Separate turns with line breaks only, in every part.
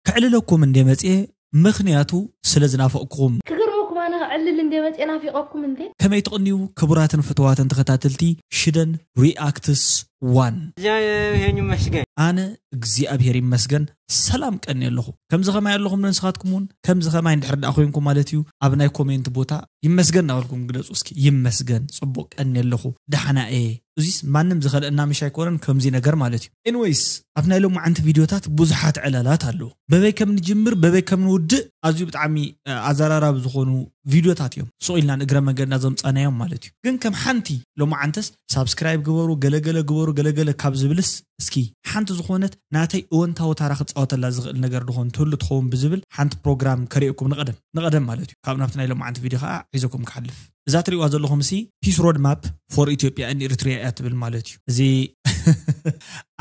ከዕልለኩም እንዴ መጽየ ምኽንያቱ ስለ ዝናፈቅኩኹም። ክገርመኩም ኣነ
ከዕልል እንዴ መጽየ ናፊቀኩም እንዴ። ከመይ ትቅንዩ
ክቡራትን ፍትዋትን ተከታተልቲ ሽደን ሪኣክትስ ዋን። እግዚኣብሔር
ይመስገን። ኣነ እግዚኣብሔር
ይመስገን ሰላም ቀንየ ኣለኹ ከምዚ ከማይ ኣለኹም ዶ ንስኻትኩም ውን ከምዚ ከማይ እንድሕር ድኣ ኮይንኩም ማለት እዩ ኣብ ናይ ኮሜንት ቦታ ይመስገን እናበልኩም ግለጹ እስኪ ይመስገን ጽቡቅ ቀንየ ኣለኹ ድሓና እየ እዚስ ማንም ዝኸልእና ምሽ ኣይኮነን ከምዚ ነገር ማለት እዩ። Anyways ኣብ ናይ ሎማዓንቲ ቪድዮታት ብዙሓት ዕላላት ኣለዉ በበይ ከም ንጅምር በበይ ከም ንውድእ ኣዝዩ ብጣዕሚ ኣዛራራቢ ዝኾኑ ቪድዮታት እዮም ሱቕ ኢልና ንእግረ መንገድና ዘምጻናዮም ማለት እዩ ግን ከም ሓንቲ ሎማዓንትስ ሳብስክራይብ ግበሩ ገለ ገለ ግበሩ ገለ ገለ ካብ ዝብልስ እስኪ ሓንቲ ዝኾነት ናተይ እወንታዊ ታራ ክጻወተላ ዝኽእል ነገር ድኾን ትህሉ ትኸውን ብዝብል ሓንቲ ፕሮግራም ከርእየኩም ንቐደም ንቐደም ማለት እዩ ካብ ናብቲ ናይ ሎማዓንቲ ቪድዮ ከኣ ሒዘኩም ክሓልፍ እዛ ትሪእዋ ዘለኹምሲ ፒስ ሮድ ማፕ ፎር ኢትዮጵያ ን ኢሪትሪያ እያ ትብል ማለት እዩ እዚ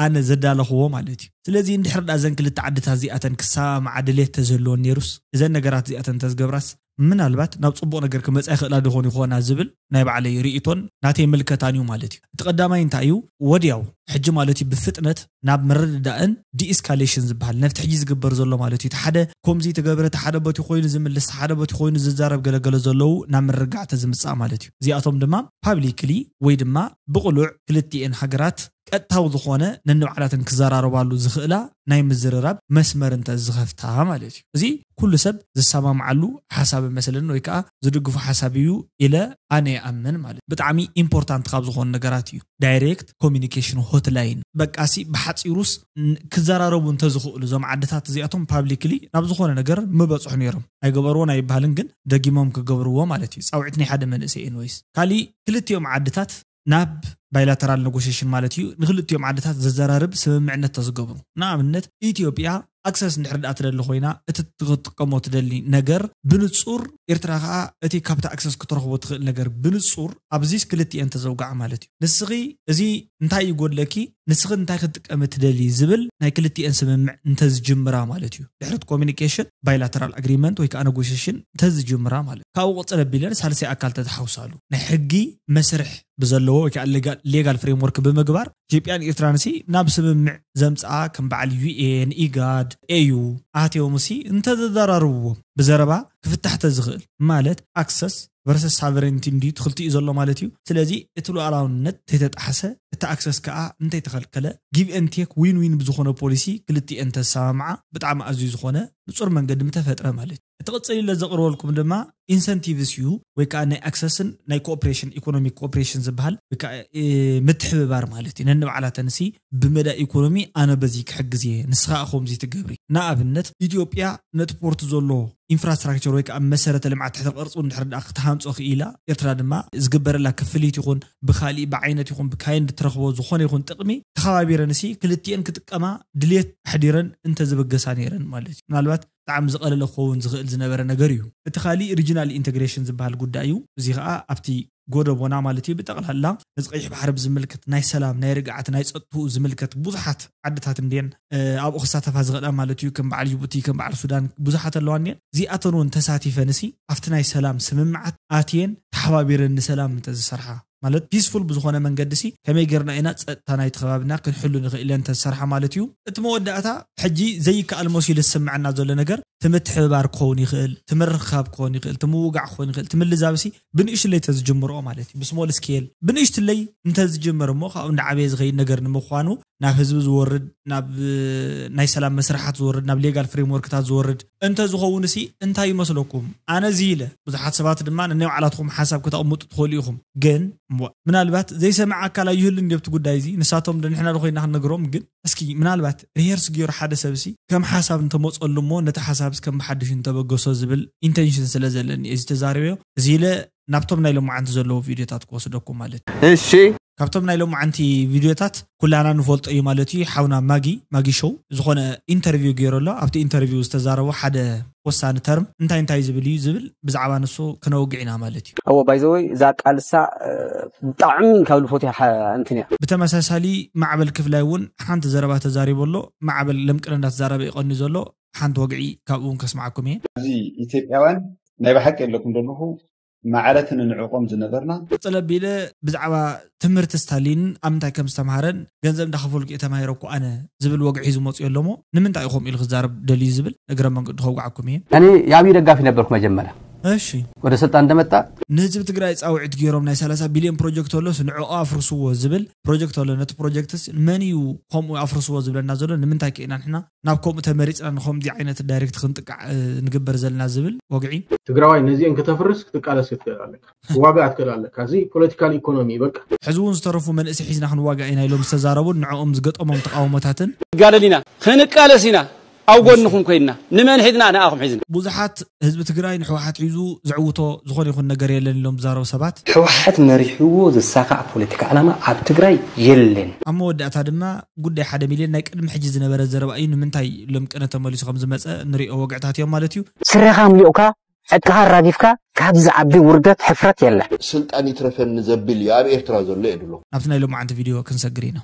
ኣነ ዘዳለኽዎ ማለት እዩ ስለዚ እንድሕር ድኣ እዘን ክልተ ዓድታት እዚኣተን ክሰማማዓ ድሌት ተዝህልወን ኔሩስ እዘን ነገራት እዚኣተን ተዝገብራስ ምናልባት ናብ ጽቡቕ ነገር ክመጻ ይኽእላ ዶኾን ይኾና ዝብል ናይ ባዕለይ ርኢቶን ናተይ ምልከታን እዩ ማለት እዩ እቲ ቀዳማይ እንታይ እዩ ወድያው ሕጂ ማለት እዩ ብፍጥነት ናብ ምርድዳእን ዲኢስካሌሽን ዝብሃል ነቲ ሕጂ ዝግበር ዘሎ ማለት እዩ እቲ ሓደ ኮምዚ ተገብረ እቲ ሓደ ቦቲ ኮይኑ ዝምልስ እቲ ሓደ ቦቲ ኮይኑ ዝዛረብ ገለ ገለ ዘለዉ ናብ ምርግጋዕ ተዝምጻእ ማለት እዩ እዚኣቶም ድማ ፓብሊክሊ ወይ ድማ ብቅሉዕ ክልቲኤን ሃገራት ቀጥታዊ ዝኾነ ነንባዕላተን ክዘራረባሉ ዝኽእላ ናይ ምዝርራብ መስመር እንተ ዝኸፍታ ማለት እዩ እዚ ኩሉ ሰብ ዝሰማምዓሉ ሓሳብ እመስለኒ ወይ ከኣ ዝድግፎ ሓሳብ እዩ ኢለ ኣነ ይኣምን ማለት እዩ ብጣዕሚ ኢምፖርታንት ካብ ዝኾኑ ነገራት እዩ። ዳይሬክት ኮሚኒኬሽን ሆትላይን። በቃሲ ብሓጺሩስ ክዘራረቡ እንተዝኽእሉ እዞም ዓድታት እዚኣቶም ፓብሊክሊ ናብ ዝኾነ ነገር ምበጽሑ ኔሮም። ኣይገበርዎን ኣይብሃልን ግን ደጊሞም ክገብርዎ ማለት እዩ። ጻውዒት ናይ ሓደ መንእሰይ ኤንወይስ። ካሊእ ክልቲኦም ዓድታት ናብ ባይላተራል ነጎሽሽን ማለት እዩ ንክልቲኦም ዓድታት ዘዘራርብ ስምምዕነት ተዝገብሩ ንኣብነት ኢትዮጵያ ኣክሰስ እንድሕር ድኣ ትደሊ ኮይና እቲ ክትጥቀሞ ትደሊ ነገር ብንጹር ኤርትራ ከኣ እቲ ካብቲ ኣክሰስ ክትረኽቦ ትኽእል ነገር ብንጹር ኣብዚስ ክልቲኤን ተዘውግዓ ማለት እዩ ንስኺ እዚ እንታይ ይጎድለኪ ንስኺ እንታይ ክትጥቀሚ ትደሊ ዝብል ናይ ክልቲኤን ስምምዕ እንተዝጅምራ ማለት እዩ ድሕሪ እቲ ኮሙኒኬሽን ባይላተራል ኣግሪመንት ወይ ከኣ ነጎሽሽን እንተዝጅምራ ማለት ካብኡ ቅጽል ኣቢለን ሳልሳይ ኣካል ተተሓውሳሉ ናይ ሕጊ መስርሕ ብዘለዎ ወይ ከኣ ሌጋል ፍሬምወርክ ብምግባር ኢትዮጵያን ኢርትራንሲ ናብ ስምምዕ ዘምጽኣ ከም በዓል ዩኤን፣ ኢጋድ፣ ኤዩ ኣህትዮምሲ እንተዘዘራርብዎም ብዘረባ ክፍታሕ ተዝኽእል ማለት ኣክሰስ ቨርሰስ ሳቨሬንቲ እንድዩ ትኽልቲኡ ዘሎ ማለት እዩ ስለዚ እቲ ሉኣላውነት ተይተጣሕሰ እቲ ኣክሰስ ከኣ እንተይተኸልከለ ጊቭ ኤን ቴክ ዊን ዊን ብዝኾነ ፖሊሲ ክልቲኤን ተሰማምዓ ብጣዕሚ ኣዝዩ ዝኾነ ንጹር መንገዲ ምተፈጥረ ማለት እቲ ቕፅል ኢለ ዘቕርበልኩም ድማ ኢንሰንቲቭስ እዩ ወይ ከዓ ናይ ኣክሰስን ናይ ኮኦፕሬሽን ኢኮኖሚክ ኮኦፕሬሽን ዝበሃል ወይ ከዓ ምትሕብባር ማለት እዩ ነንባዕላተንሲ ብመዳይ ኢኮኖሚ ኣነ በዚ ክሕግዝ እየ ንስኻ ከምዚ ትገብሪ ንኣብነት ኢትዮጵያ ነቲ ፖርት ዘሎ ኢንፍራስትራክቸር ወይ ከዓ መሰረተ ልምዓት ትሕተ ቅርፁ እንድሕር ድኣ ክትሃንፆ ክኢላ ኤርትራ ድማ ዝግበረላ ክፍሊት ይኹን ብካሊእ ብዓይነት ይኹን ብካይንድ ትረኽቦ ዝኾነ ይኹን ጥቕሚ ተኸባቢረንሲ ክልቲኤን ክጥቀማ ድልየት ኣሕዲረን እንተዝብገሳ ነይረን ማለት እዩ ምናልባት ብጣዕሚ ዝቐለለ ክኸውን ዝኽእል ዝነበረ ነገር እዩ። እቲ ካሊእ ሪጅናል ኢንተግሬሽን ዝበሃል ጉዳይ እዩ። እዚ ኸኣ ኣብቲ ጎደቦና ማለት እዩ ብጠቕላላ ነዚ ቀይሕ ባሕሪ ብዝምልከት ናይ ሰላም፣ ናይ ርግኣት፣ ናይ ጸጥትኡ ዝምልከት ብዙሓት ዓድታት እንድየን ኣብኡ ክሳተፋ ዝኽእላ ማለት እዩ ከም በዓል ጅቡቲ ከም በዓል ሱዳን ብዙሓት ኣለዋ እንድየን እዚኣተን እውን ተሳቲፈንሲ ኣብቲ ናይ ሰላም ስምምዓት ኣትየን ተሓባቢረን ንሰላም እንተዝሰርሓ ማለት ፒስፉል ብዝኾነ መንገዲሲ ከመይ ጌርና ኢና ጸጥታ ናይቲ ከባቢና ክንሕሉ ንኽእል ኢለን እንተዝሰርሓ ማለት እዩ። እቲ መወዳእታ ሕጂ ዘይከኣል መሲሉ ዝስመዐና ዘሎ ነገር እቲ ምትሕብባር ክኸውን ይኽእል፣ እቲ ምርኽኻብ ክኾን ይኽእል፣ እቲ ምውጋዕ ክኾን ይኽእል፣ እቲ ምልዛብሲ ብንእሽትለይ እንተዝጅምርኦ ማለት እዩ፣ ብስሞል ስኬል ብንእሽትለይ እንተዝጅምር እሞ ካብኡ እንዳዓበየ ዝኸይድ ነገር ንምዃኑ ናብ ህዝቢ ዝወርድ፣ ናብ ናይ ሰላም መስርሓት ዝወርድ፣ ናብ ሌጋል ፍሬምዎርክታት ዝወርድ እንተዝኸውንሲ እንታይ ይመስለኩም? ኣነ እዚ ኢለ፣ ብዙሓት ሰባት ድማ ነናይ ባዕላትኹም ሓሳብ ከተቕምጡ ትኽእሉ ኢኹም፣ ግን እዋእ! ምናልባት ዘይሰምዕ ኣካል ኣይህሉን ድዩ ኣብቲ ጉዳይ እዚ? ንሳቶምዶ ንሕናዶ ኮይንና ክንነግሮም? ግን እስኪ ምናልባት ሪሄርስ ገይሩ ሓደ ሰብሲ ከም ሓሳብ እንተመጸሉ እሞ ነቲ ሓሳብስ ከም ብሓድሽ እንተበገሶ ዝብል ኢንተንሽን ስለ ዘለኒ እየ እዚ ተዛሪበዮ፣ እዚ ኢለ ናብቶም ናይ ሎማዓንቲ ዘለዉ ቪድዮታት ክወስደኩም ማለት እዩ። እሺ ካብቶም
ናይ ሎማዓንቲ
ቪድዮታት ኩላና ንፈልጦ እዩ ማለት እዩ ሓውና ማጊ፣ Maggie Show፣ ዝኾነ ኢንተርቪው ጌሩ ኣሎ ኣብቲ ኢንተርቪው ዝተዛረቦ ሓደ ወሳኒ ተርም እንታይ እንታይ ዝብል እዩ ዝብል ብዛዕባ ንሱ ክነውግዕ ኢና ማለት እዩ። ኣወ ባይ ዘ ወይ እዛ
ቃል እሳ ብጣዕሚ ካብ ልፎትያ እንትን እያ። ብተመሳሳሊ
ማዕበል ክፍላይ እውን ሓንቲ ዘረባ ተዛሪቡ ኣሎ ማዕበል ለምቅነ እንዳተዛረበ እዩ ቀንዩ ዘሎ ሓንቲ ወግዒ
ካብኡ እውን
ከስምዓኩም
እየ። ኣብዚ ኢትዮጵያውያን
ናይ
ብሓቂ ኣለኩም ዶ
ኣለኹ
ማዕረት ንንዕቆም ዝነበርና። ቅፅል ኣቢለ
ብዛዕባ ትምህርቲ ስታሊን ኣብ ምንታይ ከም ዝተምሃረን ገንዘብ እንዳኸፈልኩ እየ ተማሂረኩ ኣነ ዝብል ወግዒ ሒዙ መፂኡ ኣሎ እሞ ንምንታይ እዩ ከምኡ ኢሉ ክዛረብ ደልዩ ዝብል እግረ መንገዱ ከውግዓኩም እየ። እኔ የአብይ ደጋፊ
ነበርኩ መጀመሪያ እሺ። ወደ
ስልጣን እንደመጣ።
ንህዝቢ ትግራይ
ፃውዒት ገይሮም ናይ ሰላሳ ቢልዮን ፕሮጀክት ኣሎስ ንዕዑ ኣፍርስዎ ዝብል ፕሮጀክት ኣሎ ነቲ ፕሮጀክትስ መን እዩ ከምኡ ኣፍርስዎ ዝብለና ዘሎ ንምንታይ ከ ኢና ንሕና ናብ ከምኡ ተመሪፅና ንከምዚ ዓይነት ዳይሬክት ክንጥቃዕ ንግበር ዘለና ዝብል ወግዒ ትግራዋይ ነዚኤን
ክተፍርስ ክትቃለስ ክትክእል ኣለካ ክዋጋእ ትክእል ኣለካ እዚ ፖለቲካል ኢኮኖሚ በቃ። ሕዚ እውን ዝተረፉ መንእሰይ ሒዝና
ክንዋጋእ ኢና ኢሎም ዝተዛረቡን ንዕኦም ዝገጠሞም ተቓውሞታትን። ክንጋደል ኢና
ክንቃለስ ኢና ኣብ ጎንኹም ኮይንና ንመን ሒዝና ንኣኹም ሒዝና። ብዙሓት ህዝቢ
ትግራይ ንሕወሓት ሒዙ ዘዕውቶ ዝኾነ ይኹን ነገር የለን ኢሎም ዝዛረቡ ሰባት፣ ሕወሓት መሪሕዎ
ዝሳኻዕ ፖለቲካ ዕላማ ኣብ ትግራይ የለን። ኣብ መወዳእታ ድማ
ጉዳይ ሓደ ሚልዮን ናይ ቅድሚ ሕጂ ዝነበረ ዘረባ እዩ፣ ንምንታይ ሎም ቅነ ተመሊሱ ከምዝመፀ ንሪኦ ወግዕታት እዮም ማለት እዩ። ስረኻ ኣምሊቑካ
ዕጥቅኻ ኣራጊፍካ ካብዚ ዝዓቢ ውርደት ሕፍረት የለን። ስልጣን ይትረፈኒ
ዘብል እዩ ኣብ ኤርትራ ዘሎ የድሎ። ናብቲ ናይ ሎማዓንቲ ቪድዮ
ክንሰግር ኢና።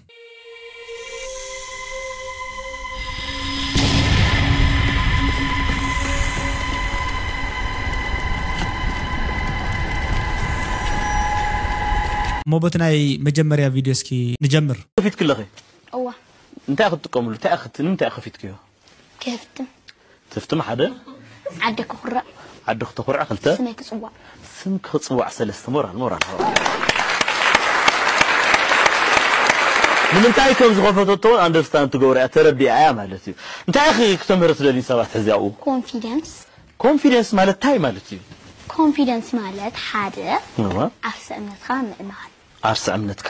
እሞ በቲ ናይ መጀመርያ ቪድዮ እስኪ ንጀምር። ከፊትክለኺ
እወ
እንታይ ክትጥቀምሉ
እንታይ ንምንታይ ከፊትክዮ። ከፍትም
ትፍትም
ሓደ ዓዲ ክኹርዕ
ዓዲ ክተኹርዕ
ክልተ ስመይ ክጽዋዕ
ስም ክጽዋዕ
ሰለስተ ሞራል ሞራል ንምንታይ ከም ዝኸፈተቶ እውን ኣንደርስታንድ ትገብሮ እያ ተረዲኣ እያ ማለት እዩ እንታይ ኢኺ ክተምህሪ ትደልዩ ሰባት ሕዚ ኣብኡ ኮንፊደንስ ኮንፊደንስ ማለት እንታይ ማለት እዩ ኮንፊደንስ
ማለት ሓደ ዓርሰ እምነትካ ምእማን ዓርሰ እምነትካ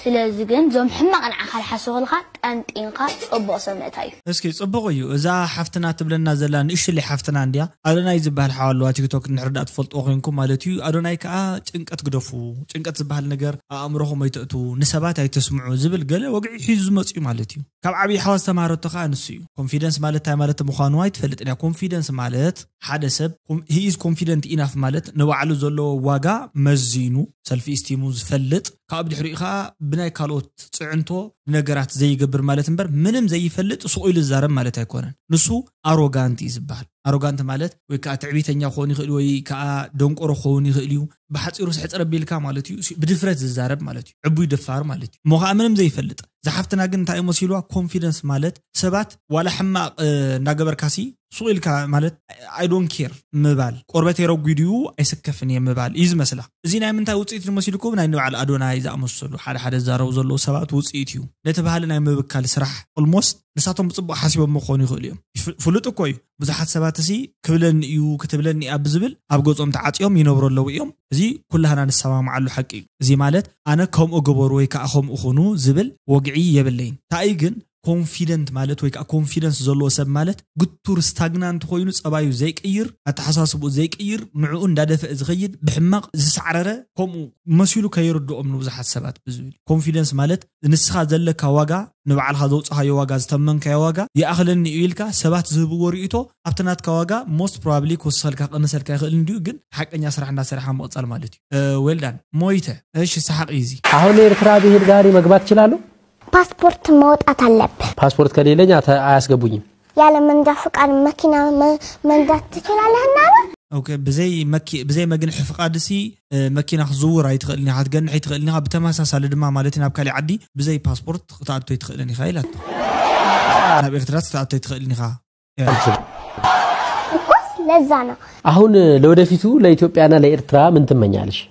ስለዚ ግን ዞም ሕማቅ ንዓካ ልሓሱኩልካ ጠንጢንካ ጹቡቅ ሰብ ምእታይ እዩ። እስኪ
ጽቡቅ እዩ እዛ ሓፍትና ትብለና ዘላ ንእሽለይ ሓፍትና እንድያ ኣዶናይ ዝብሃል ሓው ኣለዋ ቲክቶክ እንድሕር ድኣ ትፈልጥዎ ኮንኩም ማለት እዩ ኣዶናይ ክኣ ጭንቀት ግደፉ ጭንቀት ዝብሃል ነገር ኣእምሮኩም ኣይተእትዉ ንሰባት ኣይተስምዑ ዝብል ገለ ወግዒ ሒዙ ዝመጽ እዩ ማለት እዩ ካብ ዓብይ ሓዋ ዝተማሃረቶ ክኣ ንሱ እዩ ኮንፊደንስ ማለት ታይ ማለት ምኳኑ ኣይትፈልጥን እያ ኮንፊደንስ ማለት ሓደ ሰብ he is confident enough ማለት ንባዕሉ ዘለዎ ዋጋ መዚኑ፣ ሰልፍ ኢስቲሙ፣ ዝፈልጥ ካብኡ ብድሕሪኡ ከኣ ብናይ ካልኦት ጽዕንቶ ንነገራት ዘይገብር ማለት እምበር ምንም ዘይፈልጥ ሱቕ ኢሉ ዝዛረብ ማለት ኣይኮነን። ንሱ ኣሮጋንት እዩ ዝበሃል። ኣሮጋንት ማለት ወይ ከኣ ትዕቢተኛ ክኸውን ይኽእል ወይ ከኣ ደንቆሮ ክኸውን ይኽእል'ዩ። ብሓፂሩ ስሕፅር ኣቢልካ ማለት እዩ ብድፍረት ዝዛረብ ማለት እዩ ዕቡይ ደፋር ማለት እዩ እሞ ከዓ ምንም ዘይፈልጥ ዝሓፍትና ግን እንታይ መሲልዋ ኮንፊደንስ ማለት ሰባት ዋላ ሕማቕ እንዳገበርካሲ ሱቕ ኢልካ ማለት ኣይዶን ኬር ምባል ቆርበተይ ረጒዱ እዩ ኣይስከፍን እየ ምባል እዩ ዝመስላ እዚ ናይ ምንታይ ውፅኢት ንመሲልኩም ናይ ንበዓል ኣዶናይ ዝኣመሰሉ ሓደ ሓደ ዝዛረቡ ዘለዉ ሰባት ውፅኢት እዩ ነቲ ባህሊ ናይ ምብካል ስራሕ ኦልሞስት ንሳቶም ብፅቡቕ ሓሲቦሞ ክኾኑ ይኽእሉ እዮም ፍሉጥ እኮ እዩ ብዙሓት ሰባት እሲ ክብለኒ እዩ ክትብለኒ እያ ብዝብል ኣብ ገጾም ተዓጽዮም ይነብሩ ኣለዉ እዮም። እዚ ኩላህና ንሰማምዓሉ ሓቂ እዩ። እዚ ማለት ኣነ ከምኡ ግበሩ ወይ ከኣ ከምኡ ኩኑ ዝብል ወግዒ የብለይን። እንተኣይ ግን ኮንፊደንት ማለት ወይ ከኣ ኮንፊደንስ ዘለዎ ሰብ ማለት ግቱር፣ ስታግናንት፣ ኮይኑ ጸባዩ ዘይቅይር፣ ኣተሓሳስብኡ ዘይቅይር፣ ንዕኡ እንዳደፈእ ዝኸይድ፣ ብሕማቕ ዝሳዕረረ ከምኡ መሲሉ ከይርድኦም ንብዙሓት ሰባት ብዝብል እዩ። ኮንፊደንስ ማለት ንስኻ ዘለካ ዋጋ ንባዕልኻ ዘውጻኻዮ ዋጋ ዝተመንካዮ ዋጋ ይኣኽለኒ እዩ ኢልካ ሰባት ዝህብዎ ሪኢቶ ኣብቲ ናትካ ዋጋ ሞስት ፕሮባብሊ ክውስኸልካ ክቕንሰልካ ይኽእል እንድዩ ግን ሓቀኛ ስራሕ እንዳሰሪሕኻ ምቕጻል ማለት እዩ ዌል ዳን ሞይተ እሺ ሰሓቕ እዩ እዚ። አሁን ኤርትራ ብሄድ
ጋሪ መግባት ይችላሉ? ፓስፖርት
ማውጣት አለብህ። ፓስፖርት ከሌለኝ
አያስገቡኝም። ያለ መንጃ
ፍቃድ መኪና መንዳት ትችላለህ እና በል። ኦኬ ብዘይ
መኪ ብዘይ መግንሒ ፍቃድ ሲ መኪና ክትዝውር ኣይትኽእልን ኢኻ ክትገንሕ ኣይትኽእልን ኢኻ ብተመሳሳሊ ድማ ማለት እዩ ናብ ካሊእ ዓዲ ብዘይ ፓስፖርት ክትኣቱ ኣይትኽእልን ኢኻ ኢላቶ ናብ ኤርትራስ ክትኣቱ ኣይትኽእልን ኢኻ እኮስ
ለዛ ነው አሁን
ለወደፊቱ ለኢትዮጵያና ለኤርትራ ምን ትመኛለሽ?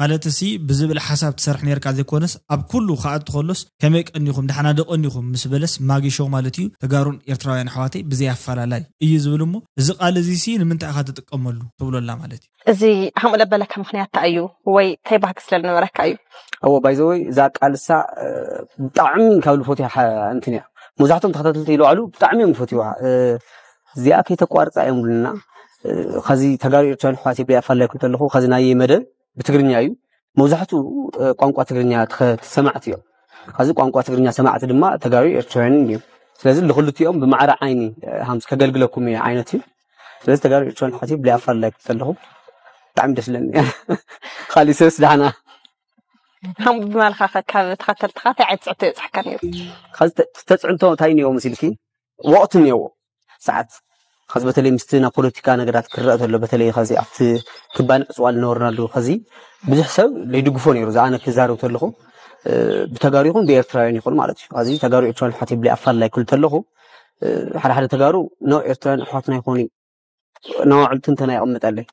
ማለትሲ
ብዝብል ሓሳብ ትሰርሕ ኔርካ ዘይኮነስ ኣብ ኩሉ ክኣቱ ከሎስ ከመይ ቀኒኹም ዳሕና ዶ ቀኒኹም ምስ በለስ ማጊ ሾው ማለት እዩ ተጋሩን ኤርትራውያን ኣሕዋተይ ብዘይ ኣፋላላይ እዩ ዝብል እሞ እዚ ቃል እዚሲ ንምንታይ ኢኻ ትጥቀመሉ ትብሎ ኣላ ማለት እዩ እዚ ከምኡ ለበለካ
ምክንያት ታይ እዩ ወይ ታይ ባህጊ ስለ ልነበረካ እዩ ኣዎ ባይ ዘ ወይ
እዛ ቃል እሳ ብጣዕሚ ካብ ልፎትያ እንትን እያ መብዛሕቶም ተኸታተልቲ ይለዋዕሉ ብጣዕሚ እዮም ዝፈትዩዋ እዚኣ ከይተቋርፃ እዮም ብሉና ከዚ ተጋሩ ኤርትራን ኣሕዋት ይብለ ኣፋላይኩም ተለኹ ከዚ ናይ መደብ ብትግርኛ እዩ መብዛሕትኡ ቋንቋ ትግርኛ ሰማዕቲ እዮም ከዚ ቋንቋ ትግርኛ ሰማዕቲ ድማ ተጋሩ ኤርትራውያን እዮም ስለዚ ንክልቲኦም ብማዕረ ዓይኒ ሃምስ ከገልግለኩም እየ ዓይነት እዩ ስለዚ ተጋሩ ኤርትራውያን ኣሕዋት ይብለ ኣፋላይኩም ተለኹ ብጣዕሚ ደስ ለኒ ካሊእ ሰብስ ዳሕና
ከም ብማልካ ካብ ተኸተልትኻ እንታይ ዓይነት ፅዕንቶ የብፅሕካ ነይሩ
ተፅዕንቶ እንታይ እኒኦ ምስ ኢልኪ ወቕቲ እኒኦዎ ሰዓት ከዚ በተለይ ምስቲ ናብ ፖለቲካ ነገራት ክረአ ተሎ በተለይ ከዚ ኣብቲ ክባን ዕፅዋ ዝነበርናሉ ከዚ ብዙሕ ሰብ ዘይድግፎ ነይሩ ዝኣነ ክዛረብ ተለኹ ብተጋሩ ይኹን ብኤርትራውያን ይኹን ማለት እዩ ከዚ ተጋሩ ኤርትራውያን ኣሕዋት ይብለይ ኣፋልላይ ክብል ተለኹ ሓደ ሓደ ተጋሩ ኖ ኤርትራውያን ኣሕዋትና ይኾኑ ን ኣዕልቱ እንተና የቅምጠለይ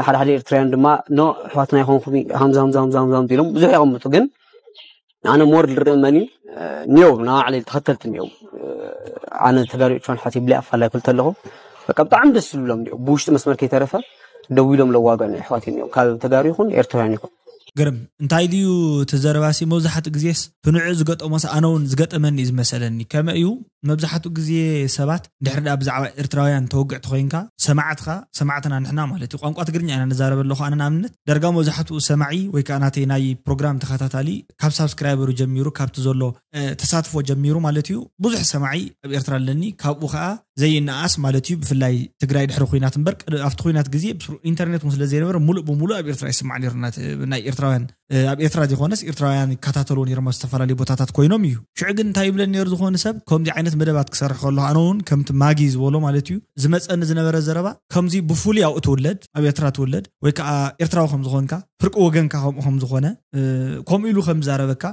ሓደ ሓደ ኤርትራውያን ድማ ኖ ኣሕዋትና ይኮንኩም ሃምዛ ሃምዛ ሃምዛ ሃምዛ ኢሎም ብዙሕ የቅምጡ ግን ኣነ ሞር ዝርእ መኒ ኒው ንባዕለይ ተኸተልቲ ኒው ኣነ ተጋሪዎቿን ሓቲ ብላይ ኣፋላይ ክልተ ኣለኹ በቃ ብጣዕሚ ደስ ዝብሎም ኒው ብውሽጢ መስመር ከይተረፈ ደው ኢሎም ለዋገኑ ኣሕዋት ኒው ካብ ተጋሩ ይኹን ኤርትራውያን ይኹን ግርም እንታይ
ድዩ እቲ ዘረባሲ መብዛሕትኡ ግዜስ ክንዑ ዝገጠሞስ ኣነ ውን ዝገጠመኒ እዩ ዝመሰለኒ ከመ እዩ መብዛሕትኡ ግዜ ሰባት እንድሕር ድኣ ብዛዕባ ኤርትራውያን ተወግዕቲ ኮይንካ ሰማዕትካ ሰማዕትና ንሕና ማለት እዩ ቋንቋ ትግርኛ ኢና ንዛረብ ኣለኹ ኣነ ንኣብነት ዳርጋ መብዛሕትኡ ሰማዒ ወይ ከኣ ናተይ ናይ ፕሮግራም ተኸታታሊ ካብ ሳብስክራይበሩ ጀሚሩ ካብቲ ዘሎ ተሳትፎ ጀሚሩ ማለት እዩ ብዙሕ ሰማዒ ኣብ ኤርትራ ኣለኒ ካብኡ ከዓ ዘይነኣስ ማለት እዩ ብፍላይ ትግራይ ድሕሪ ኩናት እምበር ኣብቲ ኩናት ግዜ ኢንተርኔት እውን ስለዘይነበረ ሙሉእ ብሙሉእ ኣብ ኤርትራ ይስማዕ ነይሩ ናይ ኤርትራውያን ኣብ ኤርትራ ዘይኮነስ ኤርትራውያን ይከታተልዎ ነይሮም ኣብ ዝተፈላለዩ ቦታታት ኮይኖም እዩ ሽዑ ግን እንታይ ይብለን ነይሩ ዝኾነ ሰብ ከምዚ ዓይነት መደባት ክሰርሕ ከሎ ኣነ እውን ከምቲ ማጊ ዝበሎ ማለት እዩ ዝመፀኒ ዝነበረ ዘረባ ከምዚ ብፍሉይ ኣብኡ ትውለድ ኣብ ኤርትራ ትውለድ ወይ ከዓ ኤርትራዊ ከም ዝኾንካ ፍርቂ ወገንካ ከምኡ ከም ዝኾነ ከምኡ ኢሉ ከም ዛረበካ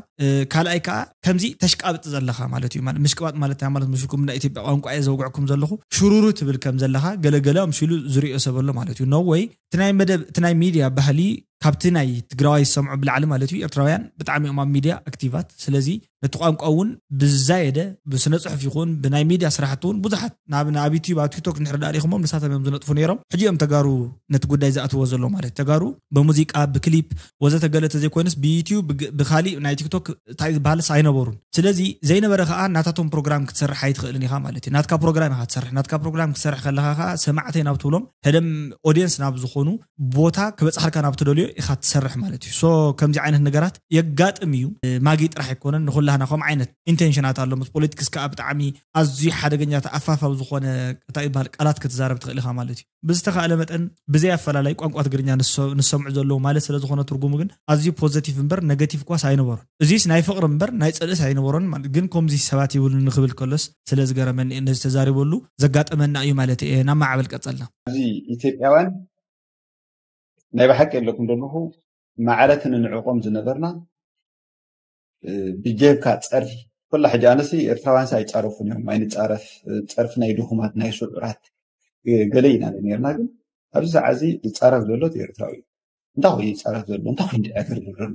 ካልኣይ ከዓ ከምዚ ተሽቃብጥ ዘለኻ ማለት እዩ ምሽቅባጥ ማለት እንታይ ማለት መስልኩም ናይ ኢትዮጵያ ቋንቋ እየ ዘውግዕኩም ዘለኹ ሽሩሩ ትብል ከም ዘለኻ ገለገለ ኣምሲሉ ዝሪኦ ሰብ ኣሎ ማለት እዩ ነወይ እቲ ናይ መደብ እቲ ናይ ሚድያ ባህሊ ካብቲ ናይ ትግራዋይ ዝሰምዑ ብላዕሊ ማለት እዩ ኤርትራውያን ብጣዕሚ እዮም ኣብ ሚድያ ኣክቲቫት ስለዚ ነቲ ቋንቋ እውን ብዝዛየደ ብስነ ፅሑፍ ይኹን ብናይ ሚድያ ስራሕቲ እውን ብዙሓት ናብ ኣብ ዩትዩብ ኣብ ቲክቶክ እንድሕር ዳኣ ሪኢኹሞም ንሳቶም እዮም ዝነጥፉ ነይሮም ሕጂ እዮም ተጋሩ ነቲ ጉዳይ ዝኣትዎ ዘሎ ማለት ተጋሩ በሙዚቃ ብክሊፕ ወዘተ ገለ ተዘይኮይንስ ብዩትዩብ ብካሊእ ናይ ቲክቶክ እንታይ ዝበሃልስ ኣይነበሩን ስለዚ ዘይነበረ ከዓ ናታቶም ፕሮግራም ክትሰርሕ ኣይትኽእልን ኢኻ ማለት እዩ ናትካ ፕሮግራም ኢኻ ትሰርሕ ናትካ ፕሮግራም ክትሰርሕ ከለኻ ከዓ ሰማዕተይ ናብ ትብሎም ሕደም ኦድየንስ ናብ ዝኾኑ ቦታ ክበፅሓልካ ናብ ትደልዮ ኢኻ ትሰርሕ ማለት እዩ ሶ ከምዚ ዓይነት ነገራት የጋጥም እዩ ማጊ ጥራሕ ኣይኮነን ንኩላህና ከም ዓይነት ኢንቴንሽናት ኣሎ ምስ ፖለቲክስ ከዓ ብጣዕሚ ኣዝዩ ሓደገኛ ተኣፋፋዊ ዝኾነ እንታይ ይበሃል ቃላት ክትዛረብ ትኽእል ኢኻ ማለት እዩ ብዝተኻእለ መጠን ብዘይ ኣፈላላይ ቋንቋ ትግርኛ ንዝሰምዑ ዘለዉ ማለት ስለ ዝኾነ ትርጉሙ ግን ኣዝዩ ፖዘቲቭ እምበር ነገቲቭ ኳስ ኣይነበሮን እዚስ ናይ ፍቕሪ እምበር ናይ ፅልእስ ኣይነበሮን ማለት ግን ከምዚ ሰባት ይብሉ ንክብል ከሎስ ስለ ዝገረመኒ እየ ነዚ ተዛሪበሉ ዘጋጠመና እዩ ማለተይ እየ ናብ ማዕበል ቀጸልና። ኣብዚ ኢትዮጵያውያን
ናይ ብሓቂ ኣለኩም ደለኹ ማዕረት ንንዕቆም ዝነበርና ብጀካ ጸርፊ ኩላ ሕጂ ኣነሲ ኤርትራውያንሲ ኣይጻረፉን እዮም ኣይንጻረፍ ጸርፊ ናይ ድኹማት ናይ ስዑራት ገለ ኢና ነርና ግን ኣብዚ ሰዓት እዚ ዝጻረፍ ዘሎ ኤርትራዊ እዩ እንታይ ኮይኑ ይጻረፍ ዘሎ እንታይ ኮይኑ ድዕግር ዝብለሉ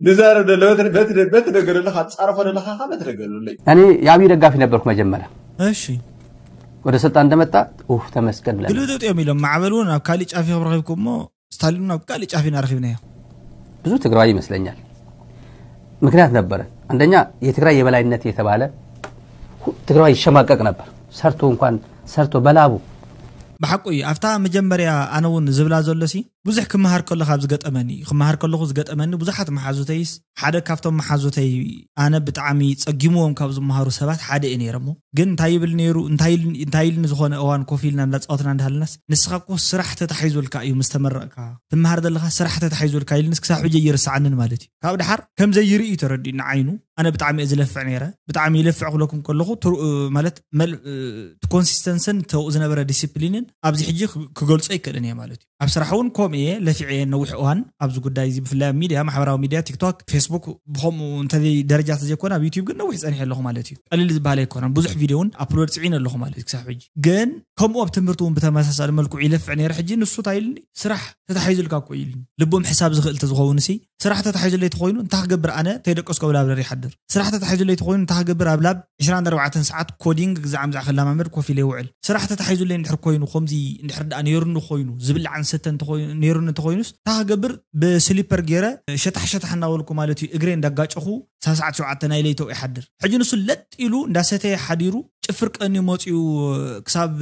ንዛረብ ደለ በቲ ነገር ኣለካ ትፃረፎ ደለካ ካ በቲ ነገር ኣለይ እኔ የአብይ ደጋፊ
ነበርኩ መጀመሪያ እሺ
ወደ
ስልጣን እንደመጣ ኡፍ ተመስገን ብለን ግልብጥብጥ እዮም ኢሎም ማዕበል
እውን ኣብ ካሊእ ጫፍ ኢኹም ረኺብኩ እሞ ስታሊን እውን ኣብ ካሊእ ጫፍ ኢና ረኺብናዮ ብዙ ትግራዋይ
ይመስለኛል ምክንያት ነበረ አንደኛ የትግራይ የበላይነት የተባለ ሁ- ትግራዋይ ይሸማቀቅ ነበር ሰርቶ እንኳን ሰርቶ በላቡ ብሓቁ እዩ
ኣብታ መጀመርያ ኣነ እውን ዝብላ ዘሎ ሲ ብዙሕ ክመሃር ከለኹ ካብ ዝገጠመኒ ክመሃር ከለኹ ዝገጠመኒ ብዙሓት መሓዙተይስ ሓደ ካብቶም መሓዙተይ ኣነ ብጣዕሚ ጸጊምዎም ካብ ዝመሃሩ ሰባት ሓደ እየ ነይረ እሞ ግን እንታይ ይብል ነይሩ እንታይ እንታይ ኢልኒ ዝኾነ እዋን ኮፍ ኢልና እንዳጻወትና እንዳሃለናስ ንስኻ እኮ ስራሕ ተታሒዙልካ እዩ ምስ ተመረቕካ ትመሃር ዘለኻ ስራሕ ተታሒዙልካ ኢልንስ ክሳብ ሕጂ ኣይርስዓንን ማለት እዩ ካብ ድሓር ከም ዘይርኢ እዩ ተረዲኡኒ ዓይኑ ኣነ ብጣዕሚ እየ ዝለፍዕ ነይረ ብጣዕሚ ይለፍዕ ክብለኩም ከለኹ ማለት እቲ ኮንሲስተንስን ተብኡ ዝነበረ ዲስፕሊንን ኣብዚ ሕጂ ክገልጾ ኣይክእልን እየ ማለት እዩ ኣብ ስራሕ እውን ከምኡ እየ ለፊዐ እየ ነዊሕ እዋን ኣብዚ ጉዳይ እዚ ብፍላይ ኣብ ሚድያ ማሕበራዊ ሚድያ ቲክቶክ ፌስቡክ ብከምኡ እንተዘይ ደረጃ ተዘይኮነ ኣብ ዩትብ ግን ነዊሕ ፀኒሐ ኣለኹ ማለት እዩ ቀሊል ዝበሃል ኣይኮነን ብዙሕ ቪድዮ እውን ኣፕሎድ ፅዒነ ኣለኹ ማለት እዩ ክሳብ ሕጂ ግን ከምኡ ኣብ ትምህርቲ እውን ብተመሳሳሊ መልክዑ ይለፍዕ ነይረ ሕጂ ንሱ እንታይ ኢልኒ ስራሕ ተታሒዙልካ እኮ እዩ ኢሉኒ። ልቡ ምሕሳብ ዝኽእል እንተዝኸውንሲ፣ ስራሕ ተታሒዙለይ ተኾይኑ እንታይ ክገብር ኣነ ከይደቀስኩ ኣብ ላብረሪ ይሓድር? ስራሕ ተታሒዙለይ ተኾይኑ እንታይ ክገብር ኣብ ላብ ዕስራን ኣርባዕተን ሰዓት ኮዲንግ ግዛዕ ምዛዕ ክለማመድ ኮፍ ኢለ ይውዕል? ስራሕ ተታሒዙለይ እንድሕር ኮይኑ ከምዚ እንድሕር ደኣ ነይሩኒ ኮይኑ ዝብላዕን ዝስተን እንተኾይኑ ነይሩኒ እንተኾይኑስ እንታይ ክገብር ብስሊፐር ገይረ ሸታሕ ሸታሕ እናበልኩ ማለት እዩ እግረይ እንዳጋጨኹ ሳብ ሰዓት ሸውዓተ ናይ ለይተኡ ይሓድር? ሕጂ ንሱ ለጥ ኢሉ እንዳሰተየ ሓዲሩ ጭፍር ቀንዩ መጽዩ ክሳብ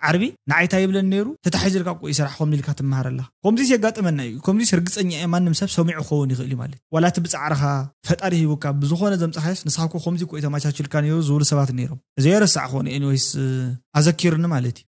ዓርቢ ንዓይ ታይ ይብለኒ ነይሩ ተታሒዙ ኢልካ ቆይ ስራሕ ኮምዚ ኢልካ ትመሃር ኣለኻ ኮምዚስ የጋጥመና እዩ ኮምዚስ ርግጸኛ እየ ማንም ሰብ ሰሚዑ ክኸውን ይኽእል እዩ ማለት ዋላ እቲ ብጻዕርኻ ፈጣሪ ሂቡካ ብዝኾነ ዘምጻኻዮስ ንስኻ እኮ ኮምዚ እኮ እዩ ተማቻችልካ ነይሩ ዝብሉ ሰባት ነይሮም እዚ ኣይረሳዕክዎን ኤኒወይስ ኣዘኪሩኒ ማለት እዩ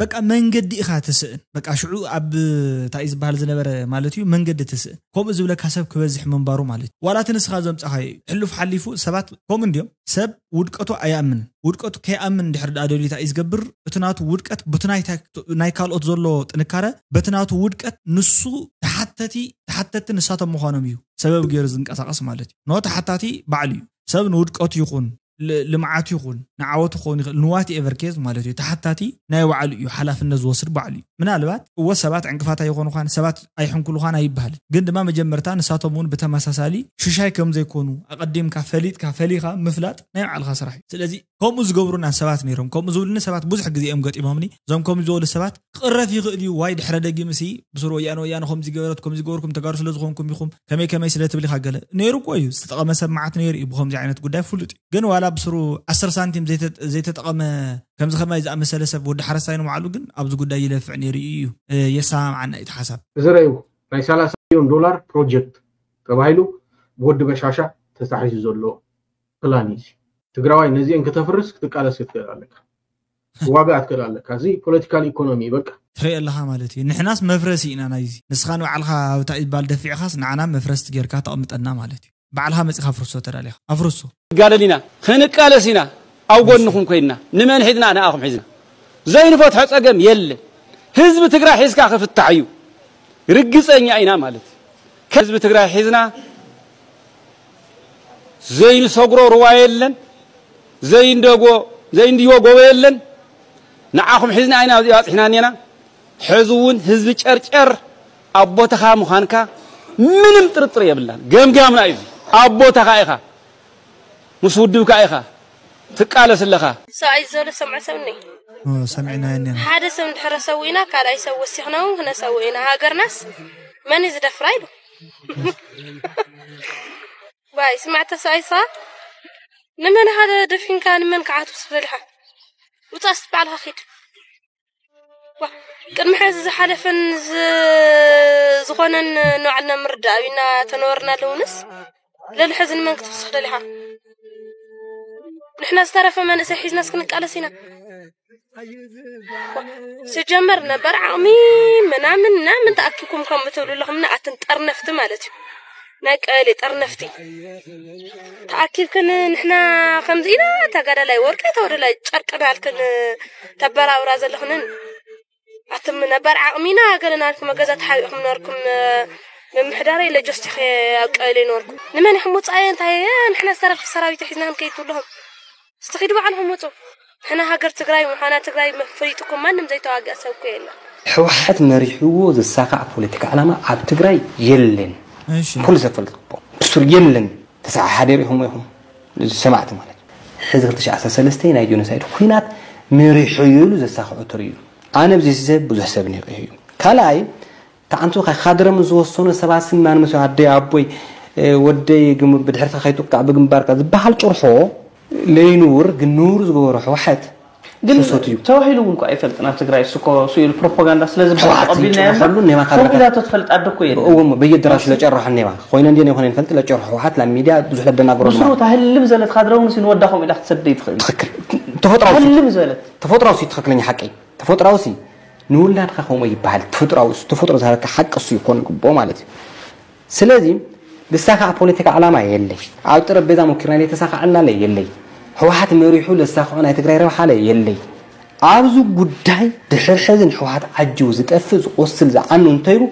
በቃ መንገዲ ኢኻ ትስእን በቃ ሽዑ ኣብ እንታይ እዩ ዝበሃል ዝነበረ ማለት እዩ መንገዲ ትስእን ከምኡ ዝብለካ ሰብ ክበዝሕ ምንባሩ ማለት እዩ ዋላ እቲ ንስኻ ዘምጻኻዮ እዩ ሕሉፍ ሓሊፉ ሰባት ከምኡ እንድዮም ሰብ ውድቀቱ ኣይኣምንን ውድቀቱ ከይኣምን ድሕሪ ድኣ ደልዩ እንታይ እዩ ዝገብር እቲ ናቱ ውድቀት በቲ ናይ ካልኦት ዘሎ ጥንካረ በቲ ናቱ ውድቀት ንሱ ተሓተቲ ተሓተቲ ንሳቶም ምዃኖም እዩ ሰበብ ገይሩ ዝንቀሳቐስ ማለት እዩ ኖ ተሓታቲ ባዕሉ እዩ ሰብ ንውድቀቱ ይኹን ልምዓት ይኹን ንዓወት ክኸውን ይኽእል ንዋት ኤቨር ኬዝ ማለት እዩ ተሓታቲ ናይ ባዕሉ እዩ ሓላፍነት ዝወስድ ባዕሉ እዩ ምናልባት እወ ሰባት ዕንቅፋት ኣይኾኑኻን ሰባት ኣይሕንኩሉኻን ኣይበሃልን ግን ድማ መጀመርታ ንሳቶም እውን ብተመሳሳሊ ሽሻይ ከም ዘይኮኑ ኣቐዲምካ ፈሊጥካ ፈሊኻ ምፍላጥ ናይ ባዕልኻ ስራሕ እዩ ስለዚ ከምኡ ዝገብሩና ሰባት ነይሮም ከምኡ ዝብሉኒ ሰባት ብዙሕ ግዜ እዮም ገጢሞምኒ እዞም ከምኡ ዝበሉ ሰባት ክቕረፍ ይኽእል እዩ ዋይ ድሕረ ደጊምሲ ብሱር ወያነ ወያነ ከምዚ ገበረት ከምዚ ገበርኩም ተጋሩ ስለ ዝኾንኩም ኢኹም ከመይ ከመይ ስለ ትብል ኢኻ ገለ ነይሩ እኮ እዩ ዝተጠቐመ ሰብ መዓት ነይሩ እዩ ብከምዚ ዓይነት ጉዳይ ፍሉጥ እዩ ግን ዋላ ብሱሩ ዓስር ሳንቲም ዘይተጠቐመ ከምዚ ከማይ ዝኣመሰለ ሰብ ወዲ ሓረስታይ ንባዕሉ ግን ኣብዚ ጉዳይ ይለፍዕ ነይሩ እዩ እዩ የሰማምዓና እዩ ሓሳብ እዚ ረዩ ናይ
ሰላሳ ሚሊዮን ዶላር ፕሮጀክት ተባሂሉ ብወዲ በሻሻ ተታሒዙ ዘሎ ፕላን እዩ ትግራዋይ ነዚአን ክተፍርስ ክትቃለስ ክትክእል ኣለካ ዋጋ ኣትከል ኣለካ እዚ ፖለቲካል ኢኮኖሚ በቃ። ትሪኢ ኣለኻ ማለት
እዩ ንሕናስ መፍረሲ ኢና ናይዚ ንስኻ ንባዕልኻ ኣብ እታ ኢባል ደፊዕኻስ ንዓና መፍረስቲ ጌርካ ተቅምጠና ማለት እዩ ባዕልኻ መጺኻ ኣፍርሶ ተዳሊኻ ኣፍርሶ። ክንጋደል ኢና
ክንቃለስ ኢና ኣብ ጎንኹም ኮይንና ንመን ሒዝና ንኣኹም ሒዝና ዘይንፈትሖ ጸገም የለን ህዝቢ ትግራይ ሒዝካ ክፍታሕ እዩ ርግጸኛ ኢና ማለት እዩ ከህዝቢ ትግራይ ሒዝና ዘይንሰግሮ ሩባ የለን። ዘይንደጎ ዘይንድዮ ጎቦ የለን ንዓኹም ሒዝና ኢና ኣብዚኣ ኣብጺሕና እኔና ሕዚ ውን ህዝቢ ጨርጨር ኣብ ቦታኻ ምዃንካ ምንም ጥርጥር የብልናን ገምጋምና እዩ እዚ ኣብ ቦታኻ ኢኻ ምስ ውድብካ ኢኻ ትቃለስ ኣለኻ። ሰብኣይ ዝበሎ ዝሰምዖ
ሰብ እኒሆ። እወ ሰሚዕናዮ
እኔና። ሓደ ሰብ እንድሕር
ሰዊእና ካልኣይ ሰብ ወሲኽና ውን ክነሰውእ ኢና ሃገርናስ መን እዩ ዝደፍራ ኢሉ። ባይ ስማዕ ተሳኢሳ ንመን ሃደ ደፊንካ ንመን ክዓቱ ዝበልካ ውፃእ እስቲ ባዕልኻ ኪድ ዋ ቅድሚ ሕዚ ዝሓለፈን ዝ- ዝኾነን ንባዕልና ምርዳእ ኣብና ተነበርና ኣለውንስ ለሊ ሕዚ ንመን ክትውስኽ ደሊኻ ንሕና ዝተረፈ መንእሰይ ሒዝናስ ክንቃለስ ኢና ስጀመር ነበር ዓቕሚ ምናምን ምናምን ተኣኪኩም ከም እትብሉ ኣለኹም ንኣትን ጠርነፍቲ ማለት እዩ ናይ ቀበሌ ጠርነፍቲ ተኣኪብክን ንሕና ከምዚ ኢና ተጋዳላይ ወርቂ ተወደላይ ጨርቂ ናልክን ተበራብራ ዘለኹንን ኣቱም ነባር ዓቕሚና ገለ ናልኩም ገዛ ተሓቢእኩም ነርኩም ምምሕዳረ ኢለ ጆስቲኸ ኣብቀለ ይነበርኩ ንመን ኢኹም ውፃየ እንታይ ንሕና ዝተረፍቲ ሰራዊት ሒዝና ክንከይድ ትብልኹም እስቲ ኺዱ ባዕልኹም ውፁ ንሕና ሃገር ትግራይ ምዃና ትግራይ መፍሪጥኩም ማንም ዘይተዋግኣ ሰብኩ የለን ሕወሓት
መሪሕዎ ዝሳካዕ ፖለቲካ ዕላማ ኣብ ትግራይ የለን ኩሉ ሰብ ፈልጥቦ ብሱር የለን ተሰዓ ሓደር ኢኹም ኢኹም ሰማዕቲ ማለት እዩ ሕዚ ክልተ ሽሕ ዓሰርተ ሰለስተ ናይ ጆኖሳይድ ኩናት መሪሑ እዩ ኢሉ ዘሳክዑ ትርእዩ ኣነ ብዚ ሰብ ብዙሕ ሰብ ኒቂሁ እዩ ካልኣይ ተዓንቱ ካድረም ዝወሰኑ ሰባት ስም ኣንመሰ ኣደይ ኣቦይ ወደይ ብድሕርትካ ከይጥቃዕ ብግንባርካ ዝበሃል ጭርሖ ለይንውር ግን ንውር ዝገበሮ ሕወሓት ግን ሱሶት
እዩ። ተባሂሉ እውን እኮ ኣይፈልጥን ኣብ ትግራይ እሱ እኮ እሱ ኢሉ ፕሮፓጋንዳ ስለ ዝብሃል ጨዋት ተቐቢልናዮ እምበር ይጭርሐሉ እኔማ ካብ ለካ-
ተባሂላቶ ትፈልጥ ኣደ እኮ
የለን እዎ እሞ በየደራሹ
ለጨርሖ እኔማ ኮይነ እንዴ ነይኮነ ንፈልጥ ለጨርሖ ህወሓት ላብ ሚዲያ ብዙሕ ለደናግሮ ድማ ምስሩ ታህልም ዘለት ካድረ
እውን እሱ ንወዳ ከምኡ ኢላ ክትሰድደ ይትኽእል ትኽክል ተፈጥራዊ ሲ-
ታህልም ዘለት
ተፈጥራዊ ሲ ትኽክለኛ
ሓቂ ተፈጥራዊ ሲ ንውላድካ ከምኡ ይበሃል ተፈጥራዊ እሱ ተፈጥሮ ዝሃበካ ሓቂ እሱ እዩ ክኾን ይግብኦ ማለት እዩ ስለዚ ልሳኻዕ ፖለቲካ ዕላማ የለይ ኣብ ጠረጴዛ ሞኪርና ለይተሳኻዐልና ለየለይ ህወሓት መሪሑ ለሳኽዖ ናይ ትግራይ ረብሓ ለየለይ ኣብዚ ጉዳይ ድሕር ሕዚ ንሕወሓት ዓጅቡ ዝጠፍእ ዝቆስል ዝዓኑ እንተይሉ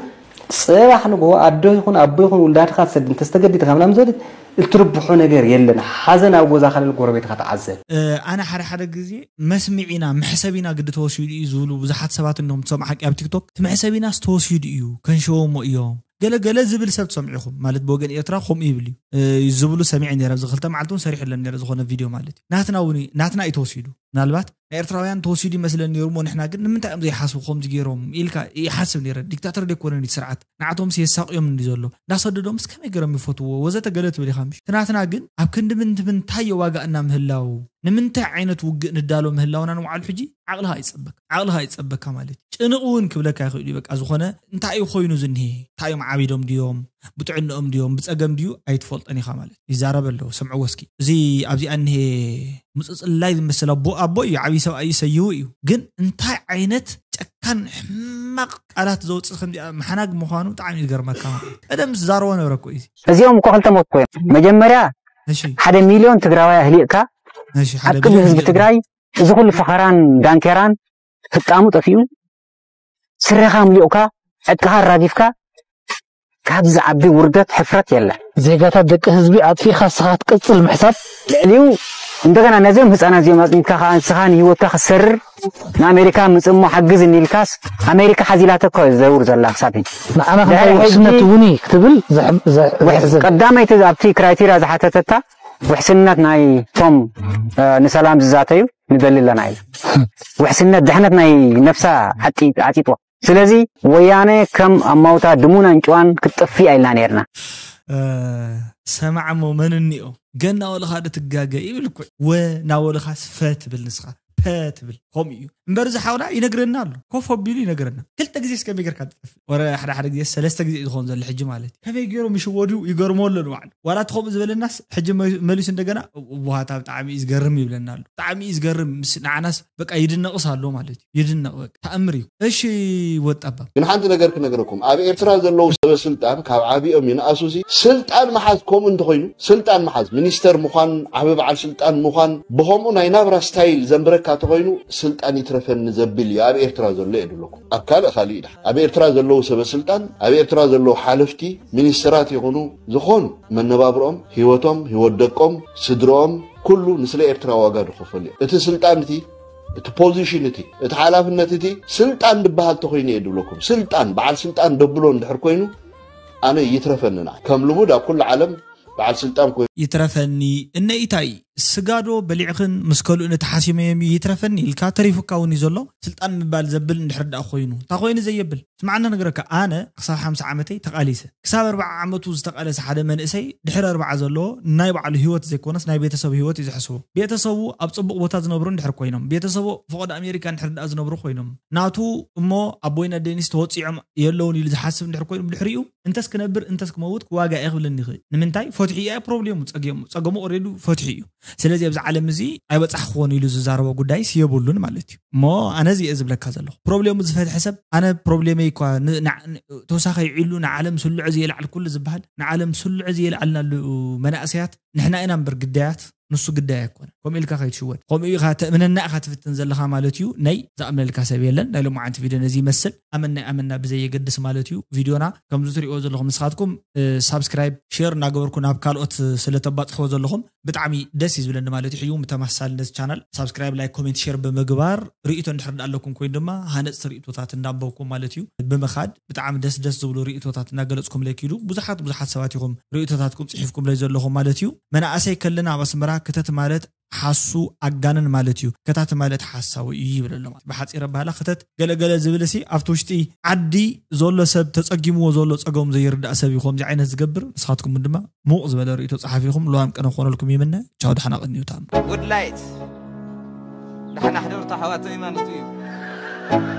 ፅባሕ ንግሆ ኣዶ ይኹን ኣቦ ይኹን ውላድኻ ትሰድ እንተዝተገዲድካ ምናምን ዝበለት እትርብሖ ነገር የለን ሓዘን ኣብ ጎዛኻ ልል ጎረቤትኻ ተዓዘብ። ኣነ ሓደ ሓደ
ግዜ መስምዒና መሕሰቢና ግዲ ተወሲዱ እዩ ዝብሉ ብዙሓት ሰባት እንዲኹም ትሰምዑ ሓቂ ኣብ ቲክቶክ እቲ መሕሰቢናስ ተወሲዱ እዩ ከንሸወሞ እዮም ገለ ገለ ዝብል ሰብ ትሰምዑ ኢኹም ማለት ብወገን ኤርትራ ከምኡ ይብል እዩ ዝብሉ ሰሚዐ ነረ ኣብዚ ክልተ መዓልቲ እውን ሰሪሑ ኣለኒ ነረ ዝኾነ ቪድዮ ማለት እዩ ናትና እውን ናትና እዩ ተወሲዱ ምናልባት ናይ ኤርትራውያን ተወሲዱ ይመስለን ነሩ እሞ ንሕና ግን ንምንታይ እዮም ዘይሓስቡ ከምዚ ገይሮም ኢልካ ይሓስብ ነረ ዲክታተር ደይኮነን እዩ ስርዓት ንዓቶምስ የሳቅዮም እንዲ ዘሎ እንዳሰደዶምስ ከመይ ገይሮም ይፈትዎ ወዘተ ገለ ትብል ኢኻ ምሽ ትናትና ግን ኣብ ክንዲ ምንትምንታይ የዋጋእና ምህላው ንምንታይ ዓይነት ውግእ ንዳሎ ምህላውና ንውዓሉ ሕጂ ዓቕልኻ ኣይጸበካ ዓቕልኻ ኣይጸበካ ማለት እዩ ጭንቕ እውን ክብለካ ይኽእል እዩ በቃ ዝኾነ እንታይ እዩ ኮይኑ ዝኒሄ እንታይ እዮም ዓቢዶም ድዮም ብጥዕንኦም ድዮም ብጸገም ድዩ ኣይትፈልጦን ኢኻ ማለት ይዛረብ ኣለዎ ሰምዕዎ እስኪ እዚ ኣብዚ ኣኒሄ ምጽጽላይ ዝመስል ኣቦ ኣቦ እዩ ዓብዪ ሰብኣይ እዩ ሰይዉ እዩ ግን እንታይ ዓይነት ጨካን ሕማቕ ቃላት ዘውፅእ ከምዚኣ መሓናግ ምዃኑ ብጣዕሚ ይገርመካ ቀደም ዝዛረቦ ነበረ እኮ እዩ እዚኦም እኮ ክልተ ሞት
ኮይኖም መጀመርያ ሓደ ሚልዮን ትግራዋይ ኣህሊቕካ ኣብ ቅድሚ ህዝቢ ትግራይ እዚ ኩሉ ፈኸራን ዳንኬራን ህጣሙ ጠፊኡ ስረኻ ኣምሊቑካ ዕጥቅኻ ኣራጊፍካ ካብዚ ዝዓቢ ውርደት ሕፍረት የለን። ዜጋታት ደቂ ህዝቢ
ኣጥፊእኻ ንስኻ ክትቅጽል ምሕሳብ። ልዕሊኡ
እንደገና ነዚኦም ህጻናት እዚኦም ኣጽኒትካ ከኣ ንስኻ ንህይወትካ ክትሰርር ንኣሜሪካ ምጽእ እሞ ሓግዝኒ ኢልካስ ኣሜሪካ ሓዚላቶ እኮ እያ ትዘውር ዘላ ክሳብ ሕጂ። ንዓና ድሕሪ ክንታይ
ሕጂ ውሕስነት እውን እዩ ክትብል ዘሕ- ዘሕ- ውሕስ ዘሕዝን።
ቀዳማይቲ ኣብቲ ክራይቴርያ ዝሓተተታ ውሕስነት ናይቶም ንሰላም ዝዛተዩ ንደሊ ኣለና ኢላ። ውሕስነት ድሕነት ናይ ነብሳ ዓጢጥዋ። ስለዚ ወያነ ከም ኣማውታ ድሙን ኣንጭዋን ክትጠፍእ እያ ኢልና ነይርና።
ሰማዕ እሞ መን እኒኦ ገና ወልኻ ዶ ትጋገ ይብል እኮ ወ ናወልኻስ ፈ ትብል ንስኻ ፐ ትብል ከምኡ እዩ እምበር እዚ ሓውና ይነግረና ኣሎ ኮፍ ኣቢሉ ይነግረና ክልተ ግዜ ስከመይ ጌርካ ትጠፍእ ወረ ሓደ ሓደ ግዜ ሰለስተ ግዜ እዩ ዝኸውን ዘሎ ሕጂ ማለት እዩ ከመይ ገይሮም ይሽወዱ ይገርሞ ኣሎ ንባዕሉ ዋላ እቲ ከምኡ ዝበለናስ ሕጂ መሊሱ እንደገና ዋሃታ ብጣዕሚ እዩ ዝገርም ይብለና ኣሎ ብጣዕሚ እዩ ዝገርም ምስ ንዓናስ በቃ ይድነቕስ ኣሎ ማለት እዩ ይድነቕ በቃ ታኣምር እዩ እሺ ወድ ጠባብ። ግን ሓንቲ ነገር
ክነግረኩም ኣብ ኤርትራ ዘለዉ ሰበ ስልጣን ካብ ዓቢኦም ይንኣሱ ሲ ስልጣን ምሓዝ ኮምኡ እንተኮይኑ ስልጣን ምሓዝ ሚኒስተር ምኳን ዓቢ በዓል ስልጣን ምኳን ብኮምኡ ናይ ናብራ ስታይል ዘንብረካ ተኮይኑ ስልጣን ይትረፈኒ ዘብል እዩ ኣብ ኤርትራ ዘሎ የድለኩም ኣብ ካልእ ካልእ ይድሓን ኣብ ኤርትራ ዘለዉ ሰበ ስልጣን ኣብ ኤርትራ ዘለዉ ሓለፍቲ ሚኒስተራት ይኩኑ ዝኮኑ መነባብርኦም ሂወቶም ሂወት ደቆም ስድርኦም ኩሉ ንስለ ኤርትራ ዋጋ ድከፈሉ እዮም እቲ ስልጣን እቲ እቲ ፖዚሽን እቲ እቲ ሓላፍነት እቲ ስልጣን ድበሃል ተኮይኑ እየ ድብለኩም ስልጣን በዓል ስልጣን ደብሎ እንድሕር ኮይኑ ኣነ ይትረፈኒ ንዓይ ከም ልሙድ ኣብ ኩሉ ዓለም በዓል ስልጣን ኮይኑ ይትረፈኒ እነ
ኢታይ ስጋ ዶ በሊዕኽን ምስ ከልኡ ነቲ ሓሲመዮም እዩ ይትረፈኒ ኢልካ ተሪፉካ ውን እዩ ዘሎ ስልጣን ምባል ዘብል እንድሕር ደኣ ኮይኑ ታኮይኑ ዘየብል። ስምዓኒ ክነግረካ ኣነ ክሳብ ሓምሳ ዓመተይ ተቃሊሰ ክሳብ ኣርብዓ ዓመቱ ዝተቃለሰ ሓደ መንእሰይ ድሕሪ ኣርብዓ ዘለዎ ንናይ ባዕሉ ሂወት ዘይኮነስ ናይ ቤተሰቡ ሂወት እዩ ዝሕስቦ ቤተሰቡ ኣብ ጽቡቅ ቦታ ዝነብሩ እንድሕር ኮይኖም ቤተሰቡ ኣብ ፎቆዶ ኣሜሪካ እንድሕር ድኣ ዝነብሩ ኮይኖም ናቱ እሞ ኣቦይን ኣደይንስ ተወጺዖም የለውን ኢሉ ዝሓስብ እንድሕር ኮይኑ ብድሕሪኡ እንተስ ክነብር እንተስ ክመውት ክዋጋእ እየ ክብለኒ ይክእል ንምንታይ ፈትሑ እያ ፕሮብሌሙ ጸገሙ ኦሬዱ ፈትሑ እዩ። ስለዚ ኣብዚ ዓለም እዚ ኣይበጻሕክዎን ኢሉ ዝዛረቦ ጉዳይስ የብሉን ማለት እዩ እሞ ኣነ እዚ እየ ዝብለካ ዘለኹ ፕሮብሌሙ ዝፈትሐ ሰብ ኣነ ፕሮብሌመይ እኳ ተወሳኺ ይዕሉ ንዓለም ስልዑ ዘየልዓልኩሉ ዝበሃል ንዓለም ስልዑ ዘየልዓልናሉ መናእሰያት ንሕና ኢና እምበር ግዳያት ንሱ ግዳይ ኣይኮነ ከምኡ ኢልካ ከይትሽወድ ከምኡ ኢኻ ተእምነና ኢኻ ትፍትን ዘለኻ ማለት እዩ ናይ ዝኣምነልካ ሰብ የለን ናይ ሎማዓንቲ ቪድዮ ነዚ ይመስል ኣመና ኣመና ብዘየገድስ ማለት እዩ ቪድዮና ከምዚ ትሪእዎ ዘለኹም ንስኻትኩም ሳብስክራይብ ሼር እናገበርኩ ናብ ካልኦት ስለ ተባፅሕዎ ዘለኹም ብጣዕሚ ደስ እዩ ዝብለኒ ማለት እዩ ሕጂ እውን ብተመሳሳሊ ነዚ ቻናል ሳብስክራይብ ላይክ ኮሜንት ሼር ብምግባር ሪኢቶ እንድሕር ዳኣ ኣለኩም ኮይኑ ድማ ሃነፅቲ ሪኢቶታት እንዳንበብኩም ማለት እዩ ብምኻድ ብጣዕሚ ደስ ደስ ዝብሉ ሪኢቶታት እናገለፅኩምለይ ኪዱ ብዙሓት ብዙሓት ሰባት ኢኹም ሪኢቶታትኩም ፅሒፍኩምለይ ዘለኹም ማለት እዩ መናእሰይ ከለና ኣብ ኣስመራ ክተት ማለት ሓሱ ኣጋንን ማለት እዩ ከታቲ ማለት ሓሳዊ እዩ ይብል ኣሎ ማለት ብሓጺር ኣባህላ ክተት ገለ ገለ ዝብልሲ ኣብቲ ውሽጢ ዓዲ ዞሎ ሰብ ተጸጊምዎ ዞሎ ጸገሙ ዘይርዳእ ሰብ እዩ ኮምዚ ዓይነት ዝገብር ንስኻትኩም ውን ድማ ሙቕ ዝበለ ርእይቶ ጸሓፊኹም ሉዋም ቅነ ክኾነልኩም ይምነ ቻው ዳሕና ቅንዩ ታም Woodlight
ዳሕና ሕደሩ ታሕዋተይ ማለቱ እዩ።